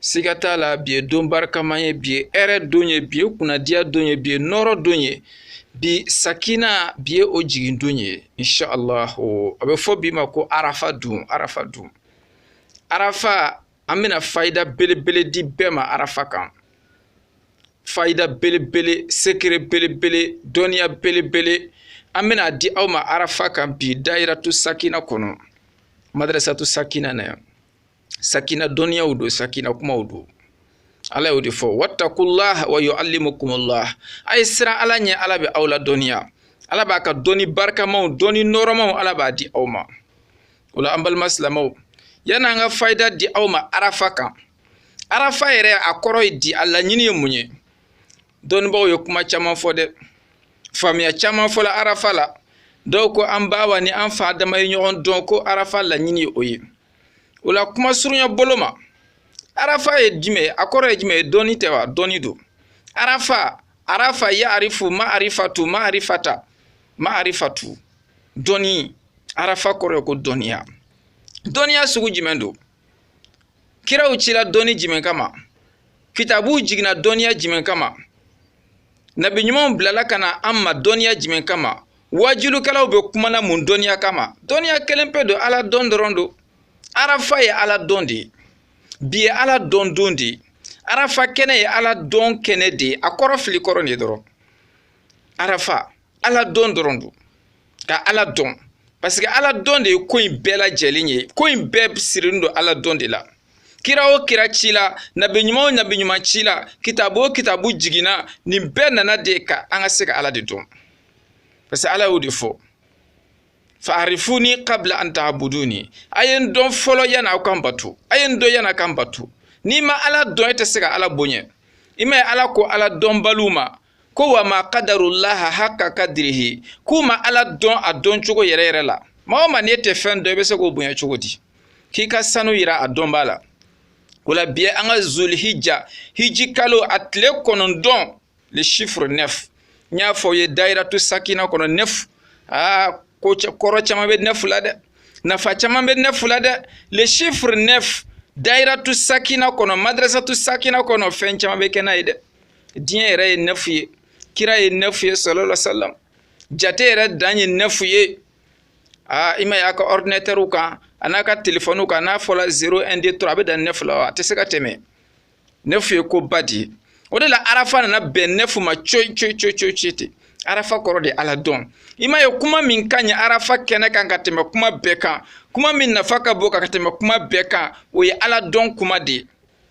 siga t'a la bi ye don barikama ye bi ye hɛrɛ don ye bi ye kunnadiya don ye bi ye nɔɔrɔ don ye bi sakina bi ye o jigin don ye inshallah a bɛ fɔ bi ma ko arafa don arafa don arafa an bɛna fayida belebele di bɛɛ ma arafa kan fayida belebele secret belebele dɔnniya belebele an bɛna a di aw ma arafa kan bi dayiratu sakina kɔnɔ madrasatu sakina na yan sakina dɔnniyaw don sakina kumaw don ala y'o de fɔ wattakullah wa yuallimukumullah a ye siran ala ɲɛ ala bɛ aw ladɔnniya ala b'a ka dɔnni barikamaw dɔnni nɔɔrɔmaw ala b'a di aw ma o la an balima silamɛw yann'an ka fayida di aw ma arafa kan arafa yɛrɛ a kɔrɔ ye di a laɲini ye mun ye dɔnnibaaw ye kuma caman fɔ dɛ faamuya caman fɔla arafa la dɔw ko an ba awa ni an fa adama ye ɲɔgɔn dɔn ko arafa laɲini ye o ye o la kuma surunya bolo ma arafa ye jumɛn ye a kɔrɔ ye jumɛn ye dɔnni tɛ wa dɔnni don arafa arafa ya'arifu ma'arifatu ma'arifata ma'arifatu dɔnni arafa kɔrɔ ye ko dɔnniya dɔnniya sugu jumɛn don kiraw cila dɔnni jumɛn kama kitabuw jiginna dɔnniya jumɛn kama nabi ɲumanw bilala ka na an ma dɔnniya jumɛn kama waajulikɛlaw bɛ kuma na mun dɔnniya kama dɔnniya kelen pe don ala dɔn dɔrɔn don arafa ye ala dɔn de ye bi ye ala dɔn don de ye arafa kɛnɛ ye ala dɔn kɛnɛ de ye a kɔrɔ fili kɔrɔ de dɔrɔn arafa ala dɔn dɔrɔn don ka ala dɔn parce que ala dɔn de ye ko in bɛɛ lajɛlen ye ko in bɛɛ sirilen don ala dɔn de la kira o kira cila nabi ɲuman o nabi ɲuman cila kitabu o kitabu jiginna nin bɛɛ nana de ka an ka se ka ala de dɔn parce que ala y'o de fɔ fa'arifuni kabla an ta'buduni a ye n dɔn fɔlɔ yanni aw ka n bato a ye n dɔn yanni a ka n bato n'i ma ala dɔn e tɛ se ka ala bonya i m'a ye ala ko ala dɔnbaliw ma ko wa ma kadarullaha hakka kadrihi k'u ma ala dɔn a dɔn cogo yɛrɛ yɛrɛ la maa o maa n'e tɛ fɛn dɔn i bɛ se k'o bonya cogo di k'i ka sanu yira a dɔnbaa la o la bi ye an ka zulhijja hiji kalo a tile kɔnɔntɔn le chiffre neuf n y'a fɔ aw ye dayiratu sakina kɔnɔ neuf aa ko kɔrɔ caman bɛ neuf la dɛ nafa caman bɛ neuf la dɛ le chiffre neuf dayiratu sakina kɔnɔ madrasatu sakina kɔnɔ fɛn caman bɛ kɛ n'a ye dɛ diɲɛ yɛrɛ ye nɛfu ye kira ye nɛfu ye sallallahu alaihi wasallam jate yɛrɛ dan ye nɛfu ye aa i ma y'a ka ɔridinatɛriw kan an'a ka telefɔniw kan n'a fɔla zero un deux trois a bɛ dan nɛfu la a tɛ se ka tɛmɛ nɛfu ye ko ba de ye o de la arafa nana bɛn nɛfu ma coyi coyi coyi coyi coyi ten arafa kɔrɔ de ala dɔn i m'a ye kuma min ka ɲi arafa kɛnɛ kan ka tɛmɛ kuma bɛɛ kan kuma min nafa ka bon ka tɛmɛ kuma bɛɛ kan o ye ala dɔn kuma de ye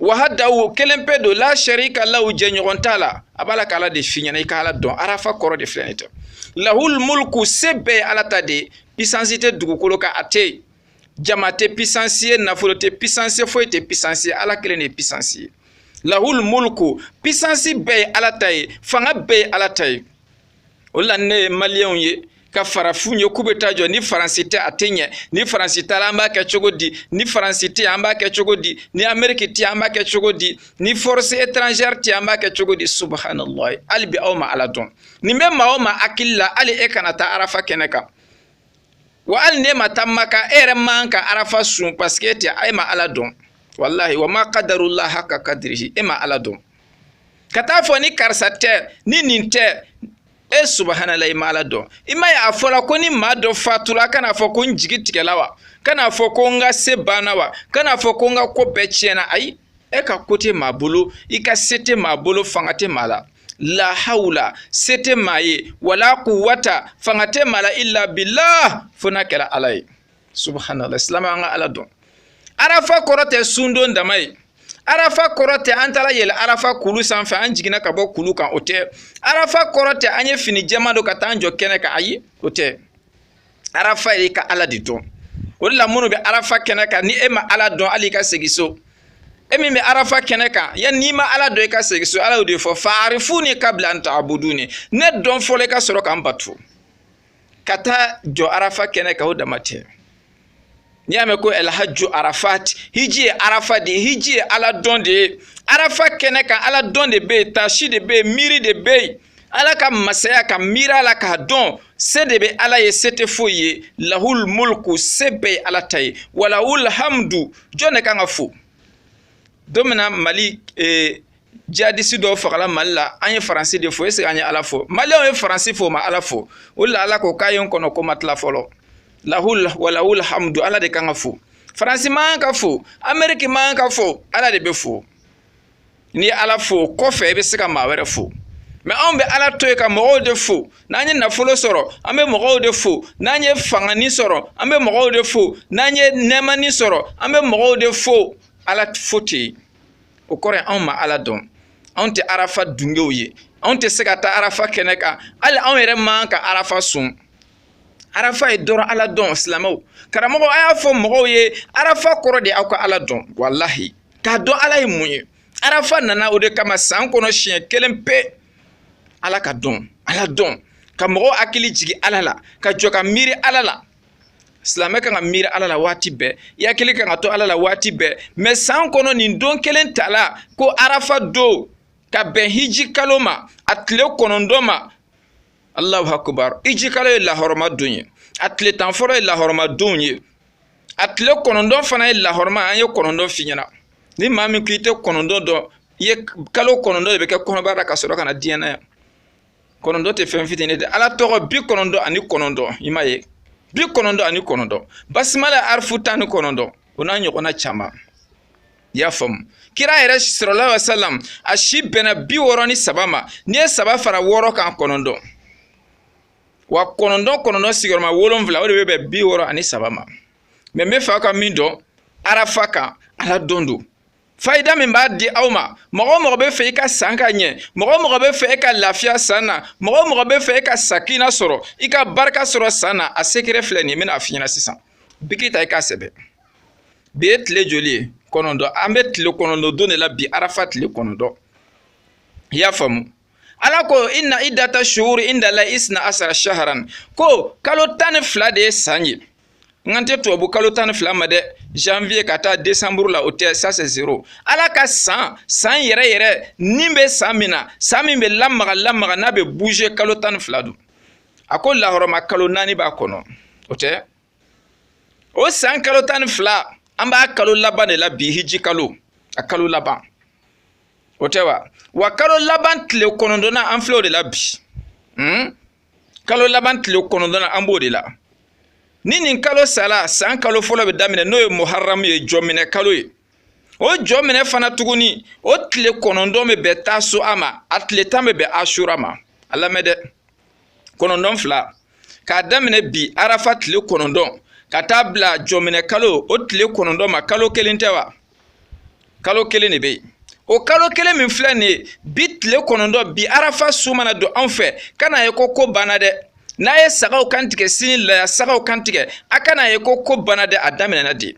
wahdahu kelen pe don la sharika lahu jɛɲɔgɔn t'a la a b'a la k'ala de f'i ɲɛna i ka ala dɔn arafa kɔrɔ de filɛ nin tɛ lahul mulku se bɛɛ ala ta de pisansi tɛ dugukolo kan a tɛ yen jama tɛ pisansi ye nafolo tɛ pisansi ye foyi tɛ pisansi ye ala kelen de ye pisansi ye lahul mulku pisansi bɛɛ ye ala ta ye fanga bɛɛ ye ala ta ye o la ne ye maliyɛnw ye ka farafinw ye k'u bɛ taa jɔ ni faransi tɛ a tɛ ɲɛ ni faransi t'a la an b'a kɛ cogo di ni faransi tɛ an b'a kɛ cogo di ni ameriki tɛ an b'a kɛ cogo di ni force étrangère tɛ an b'a kɛ cogo di subahanallahi hali bi aw ma ala dɔn nin bɛ maa o maa hakili la hali e kana taa arafa kɛnɛ kan wa hali n'e ma taa maka e yɛrɛ man ka arafa sun parce que e tɛ e ma ala dɔn walahi wa ma qadarullaha haqqa qadrihi e ma ala dɔn ka t'a fɔ ni karisa tɛ ni nin tɛ e subhanallah i ma ala dɔn i m'a ye a fɔla ko ni maa dɔ fatula kan'a fɔ ko n jigi tigɛla wa kan'a fɔ ko n ka se banna wa kan'a fɔ ko n ka ko bɛɛ tiɲɛna ayi e ka ko tɛ maa bolo i ka se tɛ maa bolo fanga tɛ maa la la hawla se tɛ maa ye wala quwwata fanga tɛ maa la illa billah fo n'a kɛla ala ye subhanallah silamɛ an ka ala dɔn arafa kɔrɔ tɛ sundon dama ye arafa kɔrɔ tɛ an taala yɛlɛ arafa kulu sanfɛ an jiginna ka bɔ kulu kan o tɛ arafa kɔrɔ tɛ an ye fini jɛman don ka taa an jɔ kɛnɛ kan ayi o tɛ arafa ye i ka ala de dɔn o de la minnu bɛ arafa kɛnɛ kan ni e ma ala dɔn hali ka segin so e min bɛ arafa kɛnɛ kan yan n'i ma ala dɔn i ka segin so ala y'o de fɔ fa'arifuni qabla an ta'buduni ne dɔn fɔlɔ i ka sɔrɔ ka n bato ka taa jɔ arafa kɛnɛ kan o dama tɛ n'i y'a mɛn ko alhajju arafat hiji ye arafa de ye hiji ye ala dɔn de ye arafa kɛnɛ kan ala dɔn de bɛ yen taasi de bɛ yen miiri de bɛ yen ala ka masaya ka miiri a la k'a dɔn se de bɛ ala ye se tɛ foyi ye lahul mulku se bɛɛ ye ala ta ye walahul hamdu jɔn de kan ka fo don min na mali eh, jihadisi dɔw fagala mali la an ye faransi de fo est ce an ye ala fo maliyɛnw ye faransi fo ma ala fo o la ala ko k'a ye n kɔnɔ ko ma tila fɔlɔ lahul walahul hamdu ala de kan ka fo faransi man ka fo ameriki man ka fo ala de bɛ fo n'i ye ala fo kɔfɛ i bɛ se ka maa wɛrɛ fo mais anw bɛ ala to yen ka mɔgɔw de fo n'an ye nafolo sɔrɔ an bɛ mɔgɔw de fo n'an ye fangani sɔrɔ an bɛ mɔgɔw de fo n'an ye nɛɛmani sɔrɔ an bɛ mɔgɔw de fo ala fo tɛ yen o kɔrɔ ye anw ma ala dɔn anw tɛ arafa dungew ye anw tɛ se ka taa arafa kɛnɛ kan hali anw yɛrɛ man ka arafa sun arafa ye dɔrɔn ala dɔn silamɛw karamɔgɔ a y'a fɔ mɔgɔw ye arafa kɔrɔ de aw ka ala dɔn walahi k'a dɔn ala ye mun ye arafa nana o de kama san kɔnɔ siɲɛ kelen pe ala ka dɔn ala dɔn ka mɔgɔw hakili jigin ala la ka jɔ ka miiri ala la silamɛ kan ka miiri ala la waati bɛɛ i hakili kan ka to ala la waati bɛɛ mais san kɔnɔ nin don kelen tala ko arafa don ka bɛn hiji kalo ma a tile kɔnɔntɔn ma alahu akubar hiji kalo ye lahɔrɔma don ye a tile tan fɔlɔ ye lahɔrɔma don ye a tile kɔnɔntɔn fana ye lahɔrɔma an ye kɔnɔntɔn f'i ɲɛna ni maa min ko i tɛ kɔnɔntɔn dɔn i ye kalo kɔnɔntɔn de bɛ kɛ kɔnɔbara la ka sɔrɔ ka na diɲɛ na yan kɔnɔntɔn tɛ fɛn fitinin dɛ ala tɔgɔ bi kɔnɔntɔn ani kɔnɔntɔn i m'a ye bi kɔnɔntɔn ani kɔnɔntɔn basimala arifu tan ni kɔnɔntɔn o n'a ɲɔgɔnna caman i y'a faamu kira yɛrɛ salalahu alayihi wa salam a si bɛnna bi wɔɔrɔ ni saba ma n'i ye saba fara wɔɔrɔ kan kɔnɔntɔn wa kɔnɔntɔn kɔnɔntɔn sigiyɔrɔma wolonfila o de bɛ bɛn bi wɔɔrɔ ani saba ma mais n bɛ fɛ aw ka min dɔn arafa kan ala dɔn don fayida min b'a di aw ma mɔgɔ o mɔgɔ bɛ fɛ i ka san ka ɲɛ mɔgɔ o mɔgɔ bɛ fɛ i ka lafiya san na mɔgɔ o mɔgɔ bɛ fɛ i ka sakina sɔrɔ i ka barika sɔrɔ san na a secret filɛ nin n bɛna a f'i ɲɛna sisan biki ta i k'a sɛbɛn bi ye tile joli ye kɔnɔntɔn an bɛ tile kɔnɔntɔn don de la bi arafa tile kɔnɔntɔn i y'a faamu ala ko inna idata suhuru indalayi isina asara saharan ko kalo tan ni fila de ye san ye n kan tɛ tubabu kalo tan ni fila ma dɛ janvier ka taa décembre la o tɛ ça c'est zéro ala ka san san yɛrɛ yɛrɛ nin bɛ san min na san min bɛ lamaga lamaga n'a bɛ bouger kalo tan ni fila don a ko lahɔrɔma kalo naani b'a kɔnɔ o tɛ o san kalo tan ni fila an b'a kalo laban de la bi hiji kalo a kalo laban o tɛ wa wa kalo laban tile kɔnɔntɔnnan an filɛ o de la bi hmm? kalo laban tile kɔnɔntɔnnan an b'o de la ni nin kalo sala san kalo fɔlɔ bɛ daminɛ n'o ye muharamu ye jɔminɛ kalo ye o jɔminɛ fana tuguni o tile kɔnɔntɔn bɛ bɛn taasuwa ma a tile tan bɛ bɛn asura ma a lamɛn dɛ kɔnɔntɔn fila k'a daminɛ bi arafa tile kɔnɔntɔn ka taa bila jɔminɛ kalo o tile kɔnɔntɔn ma kalo kelen tɛ wa kalo kelen de bɛ yen o kalo kelen min filɛ nin ye bi tile kɔnɔntɔn bi arafa su mana don anw fɛ kan'a ye ko ko banna dɛ n'a ye sagaw kan tigɛ sini laya sagaw kan tigɛ a kan'a ye ko ko banna dɛ a daminɛna de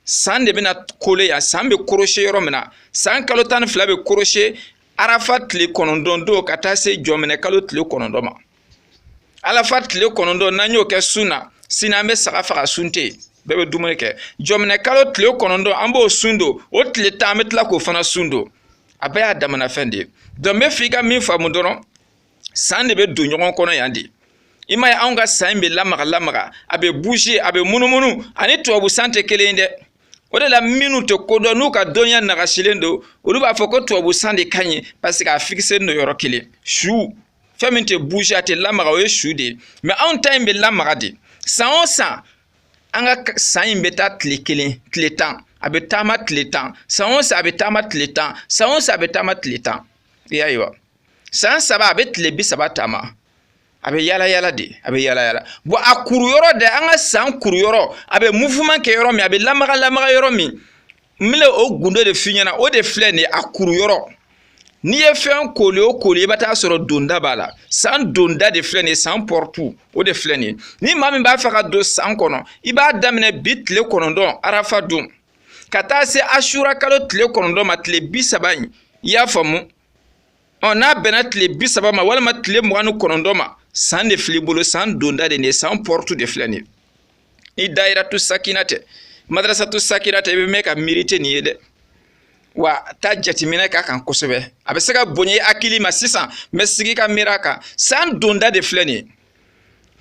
san de bɛna kole yan san bɛ korose yɔrɔ min na san kalo tan ni fila bɛ korose arafa tile kɔnɔntɔn don ka taa se jɔminɛ kalo tile kɔnɔntɔn ma arafa tile kɔnɔntɔn n'an y'o kɛ sun na sini an bɛ saga faga sun tɛ yen bɛɛ bɛ dumuni kɛ jɔminɛ kalo tile kɔnɔntɔn an b'o sun don o tile tan an bɛ tila k'o fana sun don a bɛɛ y'a damana fɛn de ye donc n b'a f'i ka min faamu dɔrɔn san de bɛ don ɲɔgɔn kɔnɔ yan de i m'a ye anw ka san in bɛ lamaga lamaga a bɛ bouge a bɛ munumunu ani tubabu san tɛ kelen ye dɛ o de la minnu tɛ ko dɔn n'u ka dɔnniya nagasilen don olu b'a fɔ ko tubabu san de ka ɲi paseke a fikiselen don yɔrɔ kelen su fɛn min tɛ bouge a tɛ lamaga o ye su de ye mɛ anw ta in bɛ lamaga de san o san an ka san in bɛ taa tile kelen tile tan a bɛ taama tile tan san o san a bɛ taama tile tan san o san a bɛ taama tile tan i y'a ye wa san saba a bɛ tile bi saba taama a bɛ yala yala de a bɛ yala yala bon a kuru yɔrɔ de an ka san kuru yɔrɔ a bɛ mouvement kɛ yɔrɔ min a bɛ lamaga lamaga yɔrɔ min n bɛna o gundo de f'i ɲɛna o de filɛ nin ye a kuru yɔrɔ n'i ye fɛn kooli o kooli i bɛ taa sɔrɔ donda b'a la san donda de filɛ nin ye san pɔrɔtu o de filɛ nin ye ni maa min b'a fɛ ka don san kɔnɔ i b'a daminɛ bi tile kɔnɔntɔn arafa don ka taa se asura kalo tile kɔnɔntɔn ma tile bi saba in i y'a faamu ɔ n'a bɛnna tile bi saba ma walima tile mugan ni kɔnɔntɔn ma san de fil'i bolo san donda de nin ye san pɔrɔtu de filɛ nin ye ni dayiratu sakina tɛ madarasatu sakina tɛ i bɛ mɛn ka miiri i tɛ nin ye dɛ wa taa jateminɛ k'a kan kosɛbɛ a bɛ se ka bonya i hakili ma sisan mɛ sigi ka miiri a kan san donda de filɛ nin ye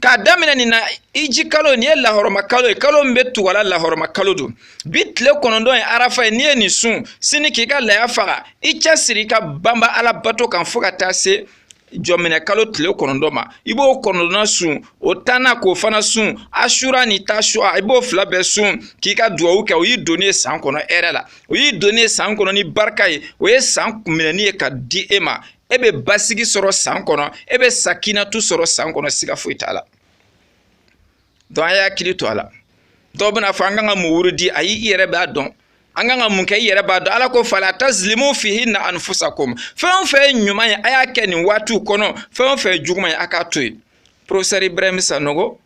k'a daminɛ nin na hiji kalo nin ye lahɔrɔma kalo ye kalo min bɛ tug'a la lahɔrɔma kalo don bi tile kɔnɔntɔn ye arafa ye n'i ye nin sun sini k'i ka laya faga i cɛsiri i ka banba ala bato kan fo ka taa se jɔminɛ kalo tile kɔnɔntɔn ma i b'o kɔnɔntɔnna sun o tanna k'o fana sun asura ni tasua i b'o fila bɛɛ sun k'i ka duwawu kɛ o y'i donnen ye san kɔnɔ hɛrɛ la o y'i donnen ye san kɔnɔ ni barika ye o ye san minɛni ye ka di e ma e bɛ basigi sɔrɔ san kɔnɔ e bɛ sakinatu sɔrɔ san kɔnɔ siga foyi t'a la donc a y'a hakili to a la dɔw bɛn'a fɔ an kan ka mun wurudi ayi i yɛrɛ b'a dɔn an kan ka mun kɛ i yɛrɛ b'a dɔn ala ko fala tazilimu fihinna anfusakum fɛn o fɛn ye ɲuman ye a y'a kɛ nin waatiw kɔnɔ fɛn o fɛn ye juguman ye a k'a to yen professeur ibrahim sanogo